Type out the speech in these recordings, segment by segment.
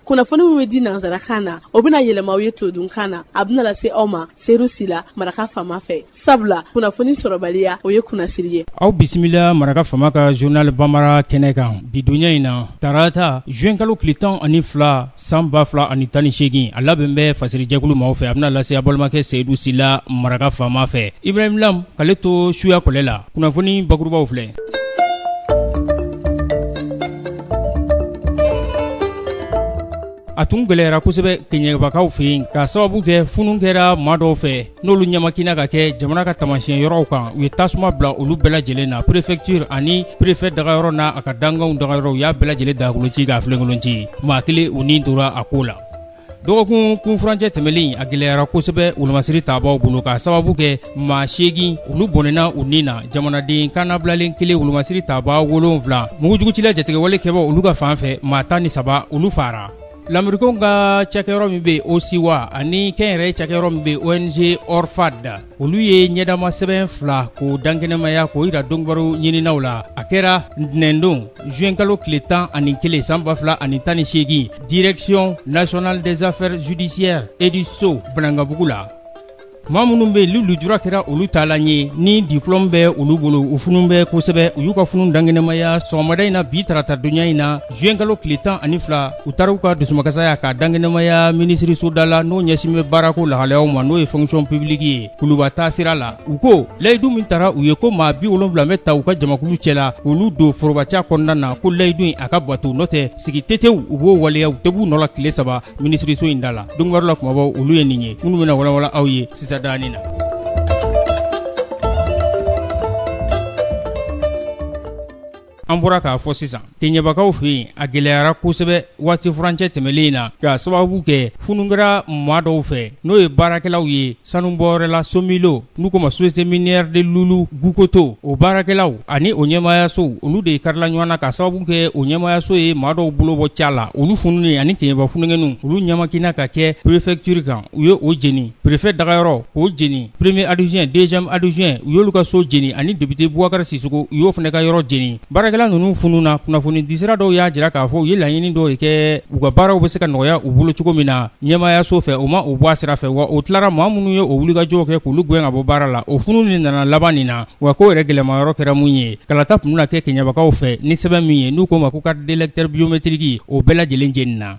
kunnafoni min bɛ di nansarakan na o bɛna yɛlɛma aw ye todunkan na a bɛna lase aw ma seyidu sila maraka fama fɛ sabula kunnafoni sɔrɔbaliya o ye kunnasiri ye aw bisimila maraka fama ka journal bambara kɛnɛ kan bi donya in na tarata juin kalo tile tan ani fila san ba fila ani tan ni seegin a labɛn bɛ fasirijɛkulu maaw fɛ a bɛna lase a balimakɛ seyidu sila maraka fama fɛ ibrahim lam k'ale to suya kɔlɛ la kunnafoni bakurubaw filɛ a tun gɛlɛyara kosɛbɛ kɛɲɛbakaw fɛ yen k'a sababu kɛ funu kɛra maa dɔw fɛ n'olu ɲamakina ka kɛ jamana ka taamasiyɛn yɔrɔw kan u ye tasuma bila olu bɛɛ lajɛlen na préfecture ani préfet dagayɔrɔ n'a ka dankanw dagayɔrɔ u y'a bɛɛ lajɛlen dagakolon ci k'a filenkolon ci maa kelen u ni tora a ko la dɔgɔkun kunfurancɛ tɛmɛnen a gɛlɛyara kosɛbɛ wolomasiri tabaw bolo k'a sababu kɛ maa seegin olu bɔnɛna u ni na jamanaden kannabilalen kelen wolomasiri tabaa wolonwula mugujugutila jatigɛwale kɛbaw olu ka fan fɛ maa tan ni saba olu faara lamerikɛnw ka cakɛyɔrɔ min bɛ OSIWA ani kɛnyɛrɛye cakɛyɔrɔ min bɛ ONG ORFAD olu ye ɲɛdama sɛbɛn fila k'o dankɛnɛmaya k'o jira donbaro ɲininaw la a kɛra ntɛnɛndon zuwenkalo tile tan ani kelen san ba fila ani tan ni seegin direction nationale des affaires judiciaires et du sceau banangabugu la maa minnu bɛ yen ni lujura kɛra olu taalan ye ni diplôme bɛ olu bolo u funun bɛ kosɛbɛ u y'u ka funun dankɛnɛmaya sɔgɔmada in na bi tarata donya in na zuwenkalo tile tan ani fila u taara u ka dusumakasaya ka dankɛnɛmaya minisiriso da la n'o ɲɛsin bɛ baarako lahalayaw ma n'o ye fonction publique ye kuluba taa sira la u ko layidu min tara u ye ko maa bi wolonwula bɛ ta u ka jamakulu cɛ la k'olu don forobaca kɔnɔna na ko layidu in a ka bato n'o tɛ sigi tete u b'o waleya u tɛ b'u nɔ la tile saba minisiriso in da la donbaro la kumabaw olu ye nin ye minnu bɛna walawala aw ye sisan danin na An bɔra k'a fɔ sisan kɛɲɛbakaw fɛ yen a gɛlɛyara kosɛbɛ waati furancɛ tɛmɛnen in na k'a sababu kɛ funu kɛra maa dɔw fɛ n'o ye baarakɛlaw ye sanubɔyɔrɔ la somilo n'u k'o ma société minière de loulo gounkoto o baarakɛlaw ani o ɲɛmaayaso olu de karila ɲɔgɔn na k'a sababu kɛ o ɲɛmaayaso ye maa dɔw bolo bɔ ca la olu fununen ani kɛɲɛba funankɛninw olu ɲamakina ka kɛ préfecture kan u ye o jeni Préfet dagayɔrɔ k'o jeni premier adjoint deuxième adjoint u y'olu ka so jeni ani député boubacar sissoko u y'o fana ka yɔrɔ jeni baarakɛla ninnu fununa kunnafoni disira dɔw y'a jira k'a fɔ u ye laɲini dɔw de kɛ u ka baaraw bɛ se ka nɔgɔya u bolo cogo min na ɲɛmaayaso fɛ o ma o bɔ a sira fɛ wa o tilara maa minnu ye o wulikajɔw kɛ k'olu gɛn ka bɔ baara la o funu de nana laban nin na wa ko yɛrɛ gɛlɛnma yɔrɔ kɛra mun ye kalata tun bɛna kɛ kɛɲɛbakaw fɛ ni sɛbɛn min ye n'u k'o ma ko carte d'électeur biométrique o bɛɛ lajɛlen jenina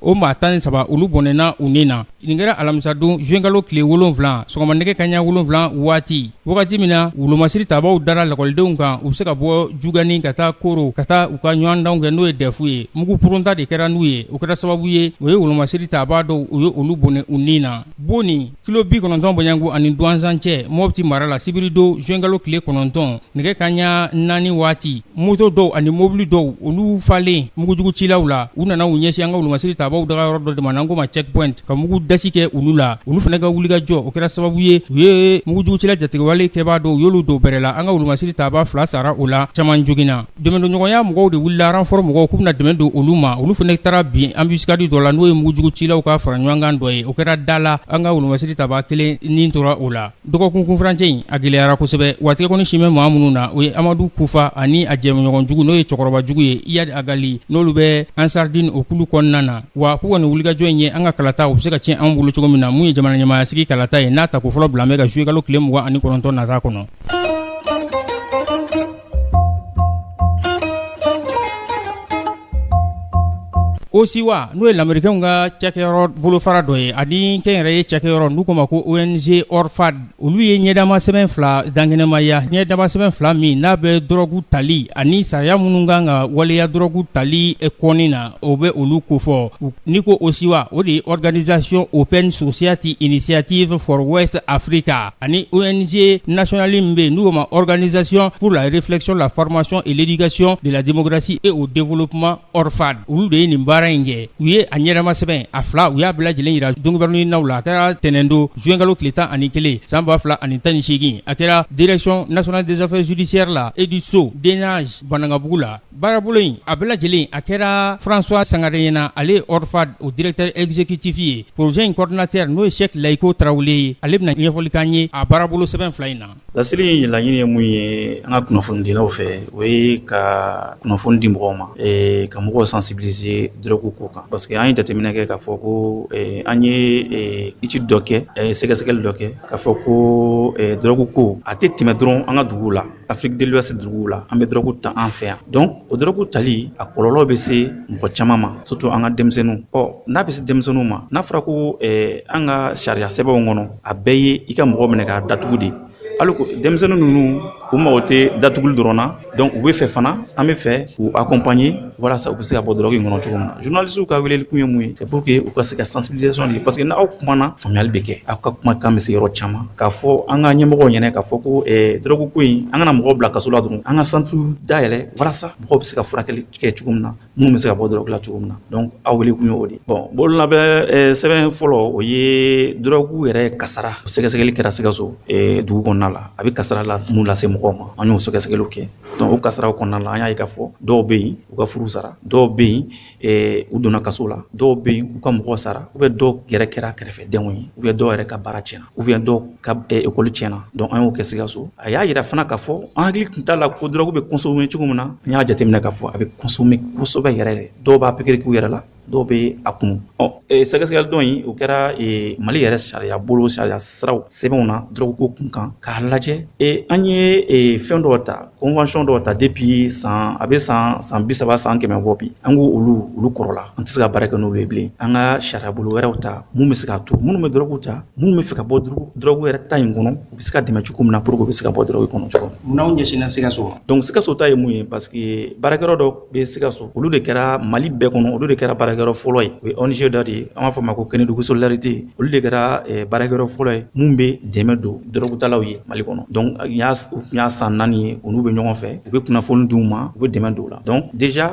o maa tan ni saba olu bɔnɛna u ni na nin kɛra alamisadon zuwɛnkalo tile wolonwula sɔgɔma nɛgɛ kaɲa wolonwula waati wagati min na wolomasiri tabaw dara lakɔlidenw kan u bɛ se ka bɔ jugani ka taa koro ka taa u ka ɲɔgɔndanw kɛ n'o ye dɛfu ye mugu purunta de kɛra n'u ye o kɛra sababu ye o ye wolomasiri tabaa dɔw u ye olu bɔnɛ u ni na bon kilo bi kɔnɔntɔn bɔɲɛko ani duwanzan cɛ mɔpti mara la sibiridon zuwɛnkalo tile kɔnɔntɔn nɛgɛ kaɲa naani waati moto dɔw ani mobili dɔw olu falen mugujugu cilaw la u nana u ɲɛsin an ka wolomasiri tabaw daga yɔrɔ dɔ de ma n'an ko ma checkpoint ka mugu dasi kɛ olu la olu fana ka wulikajɔ o kɛra sababu ye u ye mugujugu cila jatigɛwale kɛbaa dɔw u y'olu dɔw bɛrɛ la an ka wolomasiri tabaa fila sara o la caman joginna Donɲɔgɔnya mɔgɔw de wulila renfort mɔgɔw k'u bɛna dɛmɛ don olu ma olu fana taara bin anbisikadi dɔ la n'o ye mugujugu cilaw ka fara ɲɔgɔnkan dɔ ye o kɛra da la an ka wolomasiri tabaa kelen ni tora o la dɔgɔkun kunfurancɛ in a gɛlɛyara kosɛbɛ wa tigɛkɔni sin bɛ maa minnu na o ye amadu kufa ani a jɛɲɔgɔnjugu n'o ye cɛkɔrɔbajugu ye iyadi agali n'olu bɛ ansaridiini o kulu kɔnɔna na wa k'u kɔni wulikajɔ in ye an ka kalata u bɛ se ka tiɲɛ anw bolo cogo min na min ye jamana ɲɛmaaya sigi kalata ye n'a tako fɔlɔ bila bɛ ka zuyekalo tile mugan ani kɔnɔntɔn nata kɔnɔ OSIWA n'o ye lamerikɛnw ka cakɛyɔrɔ bolofara dɔ ye ani kɛnyɛrɛye cakɛyɔrɔ n'u ko ma ko ONG ORFAD olu ye ɲɛdama sɛbɛn fila dankɛnɛmaya ɲɛdama sɛbɛn fila min n'a bɛ dɔrɔgu tali ani sariya minnu kan ka waleya dɔrɔgu tali kɔni na o bɛ olu kofɔ ni ko OSIWA o de ye organisation Open Society Initiative for West Africa ani ONG nationale min bɛ yen n'u ko ma organisation pour la réflexion, la formation et l'éducation de la démocratie et au développement ORFAD olu de ye nin baara in kɛ u ye a ɲɛnama sɛbɛn a fila u y'a bɛɛ lajɛlen jira donkibaru ɲininaw la a kɛra tɛnɛndon zuwɛnkalo tile tan ani kelen san ba fila ani tan ni seegin a kɛra direction nationale des affaires judiciaires la et du sceau DNAJ Banankabugu la Baarabolo in a bɛɛ lajɛlen a kɛra François sangare ɲɛna ale ORFAD o directeur exécutif ye projet in coordinateur n'o ye sɛki layiko tarawele ye ale bɛna ɲɛfɔli k'an ye a baarabolo sɛbɛn fila in na lasigi in laɲini ye mun ye an ka kunnafonidilaw fɛ o ye ka kunnafoni di mɔgɔw ma ka mɔgɔw sensibiliser dɔrɔgu ko kan parce que an ye jateminɛ kɛ k'a fɔ ko an ye étude dɔ kɛ sɛgɛsɛgɛli dɔ kɛ k'a fɔ ko dɔrɔgu ko a tɛ tɛmɛ dɔrɔn an ka duguw la Afrique de l'Ouest duguw la an bɛ dɔrɔgu ta an fɛ yan donc o dɔrɔgu tali a kɔlɔlɔ bɛ se mɔgɔ caman ma surtout an ka denmisɛnninw ɔ n'a bɛ se denmisɛnninw ma n'a fɔra ko eh, an ka sariya sɛbɛnw kɔnɔ a bɛɛ ye i ka mɔgɔ minɛ k'a datugu de alors que denmisɛnnin ninnu u mago tɛ datuguli dɔrɔn na donc u bɛ fɛ fana an bɛ fɛ k'u accompagner walasa u bɛ se ka bɔ drogue in kɔnɔ cogo min na journalistew ka weleli kun ye mun ye c'est pour que u ka se ka sensibilisation de parce que n'aw kumana faamuyali bɛ kɛ aw ka kuma kan bɛ se yɔrɔ caman k'a fɔ an ka ɲɛmɔgɔw ɲɛna k'a fɔ ko eh, drogue ko in an kana mɔgɔw bila kaso la dɔrɔn an ka centre dayɛlɛ walasa mɔgɔw bɛ se ka furakɛli kɛ cogo min na minnu bɛ se ka bɔ drogue la cogo min na donc aw wele kun ye o de bon bololabɛn eh, sɛbɛn fɔlɔ o ye drogue yɛrɛ kasara sɛgɛsɛgɛli kɛra sikaso eh, dugu kɔnɔna la a bɛ kasara la mun lase mɔgɔw ma an y'o sɛgɛsɛgɛliw kɛ dɔnku o kasaraw kɔnɔna la an y'a ye k'a fɔ dɔw bɛ yen u ka furu sara dɔw bɛ yen eh, u donna kaso la dɔw bɛ yen u ka mɔgɔ sara ou bien dɔw yɛrɛ kɛra kɛrɛfɛdenw ye ou bien dɔw yɛrɛ ka baara tiɲɛna ou bien dɔw ka eh, ekɔli tiɲɛna dɔnku an y'o kɛ sikaso a y'a yira fana k'a fɔ an hakili tun t'a la ko dɔrɔgu bɛ consommer cogo min na an y'a jateminɛ k'a fɔ a bɛ consommer kosɛbɛ yɛrɛ dɔw b'a pikiri k'u yɛrɛ la dɔw bɛ a kunu eh, sɛgɛsɛgɛli dɔ in o kɛra eh, mali yɛrɛ sariya bolo sariya siraw sɛbɛnw na dɔrɔguko kun kan k'a lajɛ eh, an ye fɛn dɔw ta convention dɔw ta depuis san a bɛ san san bi saba san kɛmɛ bɔ bi an ko olu olu kɔrɔla an tɛ se ka baara kɛ n'olu ye bilen an ka sariya bolo wɛrɛw ta mun bɛ se k'a to minnu bɛ dɔrɔgu ta minnu bɛ fɛ ka bɔ dɔrɔgu yɛrɛ ta in kɔnɔ u bɛ se ka dɛmɛ cogo min na pour que u bɛ se ka bɔ dɔrɔgu kɔnɔ cogo min na aw ɲɛsinna sikaso ma donc sikaso ta ye mun ye parce que baarakɛyɔrɔ dɔ bɛ sikaso olu de kɛra mali bɛɛ kɔnɔ olu de kɛra baarakɛyɔrɔ fɔlɔ ye o ye ong dɔ de ye an b'a fɔ ma ko kɛnɛdugu solidarité olu de kɛra baarakɛyɔrɔ fɔlɔ ye minnu bɛ dɛmɛ don dɔrɔgutalaw ye mali kɔnɔ nin y'a san naani ye olu bɛ ɲɔgɔn fɛ u bɛ kunnafoni d'u ma u bɛ dɛmɛ don u la donc déjà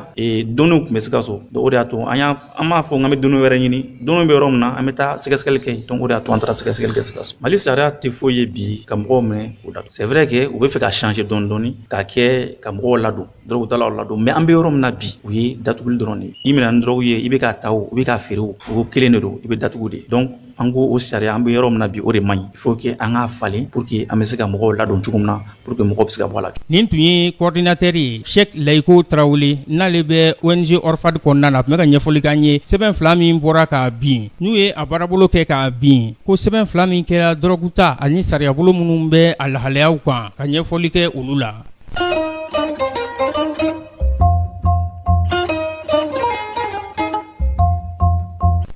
donnéew tun bɛ sikaso o de y'a to an an b'a fɔ an bɛ donnée wɛrɛ ɲini donnéew bɛ yɔrɔ min na an bɛ taa sɛgɛsɛgɛli kɛ yen o de y'a to an taara sɛgɛsɛgɛli kɛ sikaso mali sariya tɛ foyi ye bi ka mɔgɔw minɛ o da c'est vrai que u bɛ fɛ ka changer dɔɔni k'a kɛ ka mɔgɔw ladon dɔrɔgutalaw ladon mais an bɛ yɔrɔ min na bi u ye datuguli dɔrɔn de i minɛna ni dɔrɔgu ye i bɛ k'a ta o i bɛ k'a feere o o kelen de don i bɛ datugu de donc an ko o sariya an bɛ yɔrɔ min na bi o de man ɲi il faut que an k'a falen pour que an bɛ se ka mɔgɔw ladon cogo min na pour que mɔgɔw bɛ se ka bɔ a la nin tun ye kɔɔridinatɛri ye sɛk layiko tarawele n'ale bɛ ong orfad kɔnɔna na tun bɛ ka ɲɛfɔli k'an ye sɛbɛn fila min bɔra kabini u ye a baarabolo kɛ k'a bin ko sɛbɛn fila min kɛra dɔrɔguta ani sariyabolo minnu bɛ a lahalayaw kan ka ɲɛfɔli kɛ olu la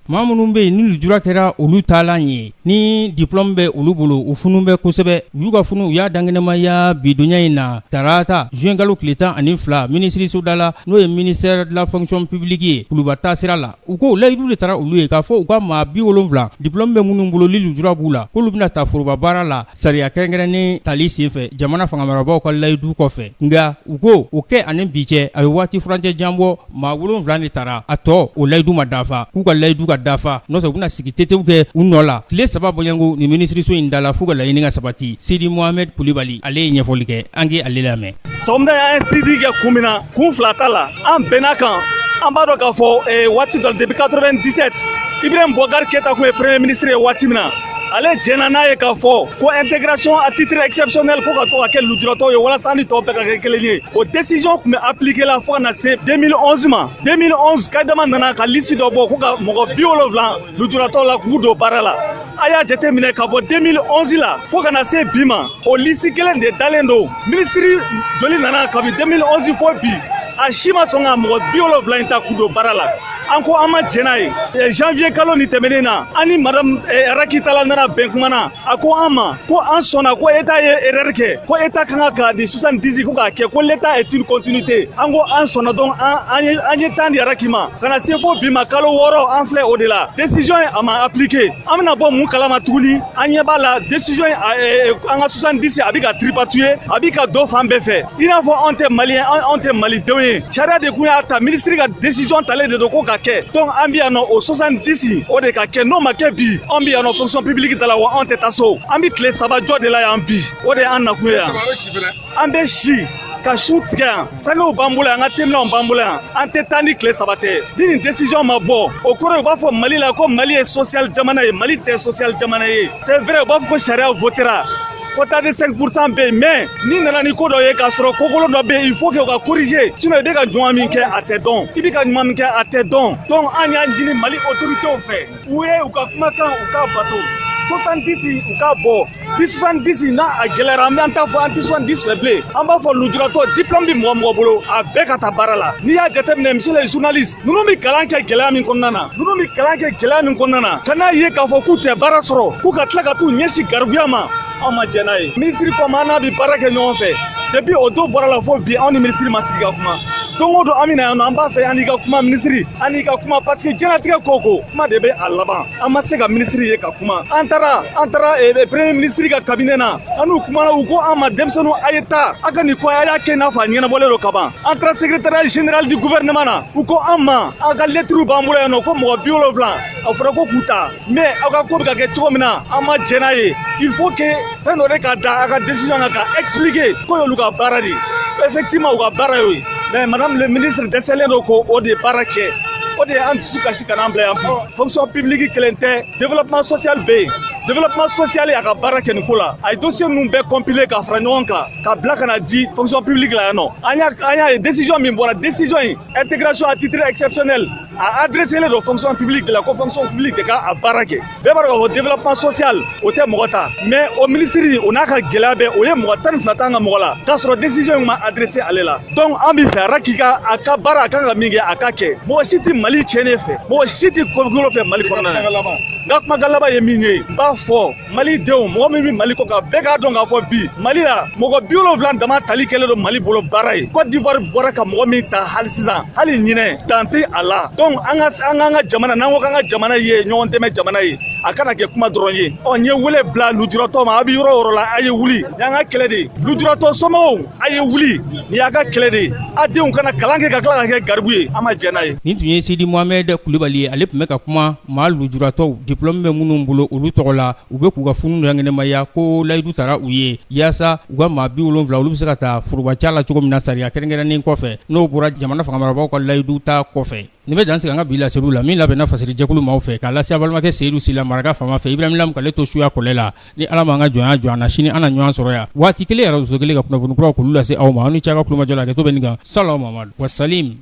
Maa minnu bɛ yen ni lujura kɛra olu taalan ye ni diplɔmu bɛ olu bolo u funu bɛ kosɛbɛ u y'u ka funu u y'a dankɛnɛmaya bidonya in na tarata zuwɛnkalo tile tan ani fila minisiriso da la n'o ye ministère de la fonction publique ye kuluba taa sira la u ko layidu de tara olu ye k'a fɔ u ka maa bi wolonwula diplɔmu bɛ minnu bolo ni lujura b'u la k'olu bɛna ta forobabaara la Sariya kɛrɛnkɛrɛnnen tali senfɛ jamana fanga marabagaw ka layidu kɔfɛ nka u ko o kɛ ani bi cɛ a bɛ waati furancɛ jan bɔ maa wolonwula de tara a tɔ o layidu ma dafa k'u ka layidu ka dafa n'o tɛ u bɛna sigi tetew kɛ u nɔ la tile saba bɔɲɔgɔnko nin minisiriso in da la f'u ka laɲini ka sabati Sidi Mohamɛdi Kulibali ale ye ɲɛfɔli kɛ an ka ale lamɛn sɔgɔmada an ye sit-in kɛ kun min na kun fila t'a la an bɛnna kan an b'a dɔn k'a fɔ eh, waati dɔ depuis 97 ibrahim boubacar keita kun ye premier ministre ye waati min na ale jɛnna n'a ye k'a fɔ ko intégration à titre exceptionnel ko k'a to ka kɛ lujuratɔw ye walasa an ni tɔw bɛɛ ka kɛ kelen ye o décision tun bɛ appliquer la fo ka na se 2011 ma 2011 kaïdama nana ka lisi dɔ bɔ ko ka mɔgɔ bi wolonfila lujuratɔ la k'u don baara la a y'a jate minɛ ka bɔ 2011 la fo ka na se bi ma o lisi kelen de dalen don minisiri joli nana kabi 2011 fo bi a si ma sɔn ka mɔgɔ bi wolonfila in ta k'u don baara la an ko an ma jɛn n'a ye janvier kalo nin tɛmɛnen na an ni madamu eh, raky talla nana bɛn kuma na a ko an ma ko an sɔnna ko état ye erreur kɛ ko état ka kan ka nin 70 ko k'a kɛ ko l'état est une continuité an ko an sɔnna donc an ye an ye temps di raky ma ka na se fo bi ma kalo wɔɔrɔ an filɛ o de la décision ye a ma appliqué an bɛna bɔ min kalama tuguni an ɲɛ b'a la décision ye an ka 70 a bɛ ka tripatouiller a bɛ ka don fan bɛɛ fɛ i n'a fɔ anw tɛ maliyɛn anw tɛ malidenw ye sariya de kun y'a ta minisiri ka desisɔn talen de don k'o ka kɛ donc an bi yan nɔ o 70 o de ka kɛ n'o ma kɛ bi anw bi yan nɔ fonction publique da la wa anw tɛ taa so an bi tile saba jɔ de la yan bi o de y'an nakun ye yan an bɛ si ka sun tigɛ yan sangew b'an bolo yan an ka teminɛw b'an bolo yan an tɛ taa ni tile saba tɛ ni nin desisɔn ma bɔ o kɔrɔ u b'a fɔ mali la ko mali ye sosiyal jamana ye mali tɛ sosiyal jamana ye C'est vrai, u b'a fɔ ko sariya votera quota de 5 pourcent bɛ yen mais n'i nana ni ko dɔ ye k'a sɔrɔ ko kolon dɔ bɛ yen il faut que o ka corriger sinon i bɛ ka ɲuman min kɛ a tɛ dɔn i bɛ ka ɲuman min kɛ a tɛ dɔn donc an y'a ɲini mali autorités fɛ u ye u ka kumakan u k'a bato 70 u k'a bɔ bi 70 n'a a gɛlɛyara an bɛ an t'a fɔ an tɛ 70 fɛ bilen an b'a fɔ lujuratɔ diplôme bɛ mɔgɔ o mɔgɔ bolo a bɛɛ ka taa baara la n'i y'a jateminɛ monsieur le journaliste ninnu bɛ kalan kɛ gɛlɛya min kɔnɔna na ninnu bɛ kalan kɛ gɛlɛya min kɔnɔna na ka n'a ye k'a fɔ k'u tɛ baara sɔrɔ k'u ka tila ka t'u ɲɛsin garibuya ma anw ma jɛn n'a ye minisiri comme an n'a bɛ baara kɛ ɲɔgɔn fɛ depuis o don bɔra la fo bi anw ni minisiri ma sigi ka kuma don o don an bɛ na yan nɔ an b'a fɛ an n'i ka kuma minisiri an n'i ka kuma parce que diɲɛlatigɛ ko o ko kuma de bɛ a laban an ma se ka minisiri ye ka kuma an taara an taara eh, eh, premier minisiri ka kabinɛ na an n'u kumana u ko an ma denmisɛnninw a ye taa a ka nin ko a y'a kɛ n'a fɔ a ɲɛnabɔlen don kaban an taara secrétariat général du gouvernement na u ko an ma a ka lɛtiriw b'an bolo yan nɔ ko mɔgɔ bi wolonfila a fɔra ko k'u ta mais aw ka ko bɛ ka kɛ cogo min na an ma jɛn n'a ye il faut que fɛn dɔ de ka da a ka décision kan ka expliquer k'o y'olu ka baara de ye effectivement u ka baara y'o ye mais madame le ministre dɛsɛlen don k'o o de baara kɛ o de ye an dusu kasi ka n'an bila yan fonction publique kelen tɛ développement social bɛ yen développement social y'a ka baara kɛ nin ko la a ye dossier ninnu bɛɛ compiler ka fara ɲɔgɔn kan ka bila ka na di fonction publique la yan nɔ an y'a an y'a ye décision min bɔra décision in intégration à titre exceptionnel a adresselen don fonction publique de la ko fonction publique de ka a baara kɛ bɛɛ b'a dɔn k'a fɔ développement social o tɛ mɔgɔ ta mais o minisiri o n'a ka gɛlɛya bɛɛ o ye mɔgɔ tan ni fila t'an ka mɔgɔ la k'a sɔrɔ décision in ma adressé ale la donc an bɛ fɛ a raki ka a ka baara a kan ka min kɛ a ka kɛ mɔgɔ si tɛ mali tiɲɛnen fɛ mɔgɔ si tɛ ko kolon fɛ mali kɔnɔna na n ka kumakan laban ye min ye n b'a fɔ mali denw mɔgɔ min bɛ mali kɔ kan bɛɛ k'a dɔn k'a fɔ bi mali la mɔgɔ bi wolonfila dama tali kɛlen don mali bolo baara ye côte d'ivoire bɔra ka mɔgɔ min ta hali sisan hali ɲinɛ dan tɛ a la donc an ka an k'an ka jamana n'an ko k'an ka jamana ye ɲɔgɔn dɛmɛ jamana ye a kana kɛ kuma dɔrɔn ye ɔ n ye wele bila lujuratɔ ma a bɛ yɔrɔ o yɔrɔ la a ye wuli nin y'an ka kɛlɛ de ye lujuratɔ somɔgɔw a ye wuli nin y'a ka kɛlɛ de ye a denw kana kalan kɛ ka tila ka kɛ garibu ye an ma jɛn n'a ye nin tun ye sidi mohamɛd kulibali ye ale tun bɛ ka kuma maa lujuratɔw diplɔmu bɛ minnu bolo olu tɔgɔ la u bɛ k'u ka funu lankɛnɛmaya ko layidu tara u ye yaasa u ka maa bi wolonfila olu bɛ se ka ta forobaca la cogo min na sariya kɛrɛnkɛrɛnnen kɔfɛ n'o bɔra jamana fangamarabagaw ka layidu ta kɔfɛ Nin bɛ dan sigi an ka bi laseliw la min labɛnna fasiri jɛkulu maaw fɛ k'a lase a balimakɛ seyidu sila maraka fama fɛ ibrahim lamu k'ale to suya kɔlɛ la ni ala m'an ka jɔnya jɔ an na sini an na ɲɔgɔn sɔrɔ yan waati kelen arajoso kelen ka kunnafoni kuraw k'olu lase aw ma a ni ce a ka tulomajɔ la hakɛto bɛ nin kan sala muhamad wa salim